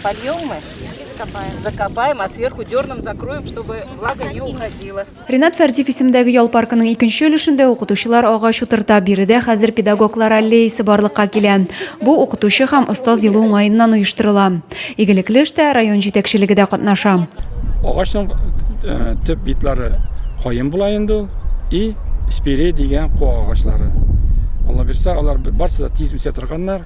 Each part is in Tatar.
Польем мы и закопаем. Закопаем, а сверху дерном закроем, чтобы влага не уходила. Ренат Фәрдиев исемдәге ял паркының икенче өлешендә укытучылар агач утырта. Биредә хәзер педагоглар аллеясы барлыкка килә. Бу укытучы һәм остаз елы уңаеннан оештырыла. Игелекле эштә район җитәкчелеге дә катнаша. Агачның э, төп битлары каен була инде ул и спире дигән куа агачлары. Алла бирсә, алар барсы да тиз үсә торганнар.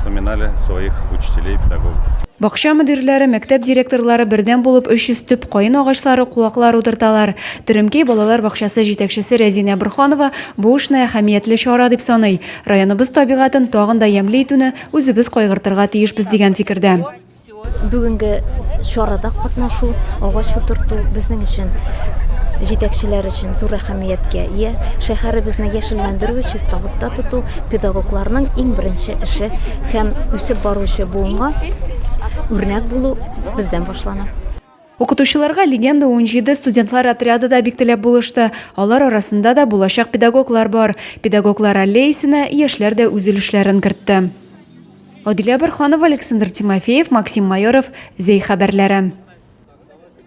вспоминали своих учителей и педагогов. Бакча мөдирләре, мәктәп директорлары бердәм булып 300 төп каен агачлары, куаклар утырталар. Теремкәй балалар бакчасы җитәкчесе Рәзинә Борханова бу эшне әһәмиятле чара дип саный. Районыбыз табигатен тагын да ямьле итүне үзебез кайгыртырга тиешбез дигән фикердә. Бүгенге чарада катнашу, агач утырту безнең өчен җитәкчеләр өчен зур әһәмияткә ия. Шәһәребезне яшелләндерү, чисталыкта тоту педагогларның иң беренче эше һәм үсеп баручы буынга үрнәк булу бездән башлана. Укытучыларга Легенда 17 студентлар отряды да бик теләп булышты. Алар арасында да булачак педагоглар бар. Педагоглар аллеясенә яшьләр дә үз өлешләрен кертте. Адилә Борханова, Александр Тимофеев, Максим Майоров, Зәй хәбәрләре.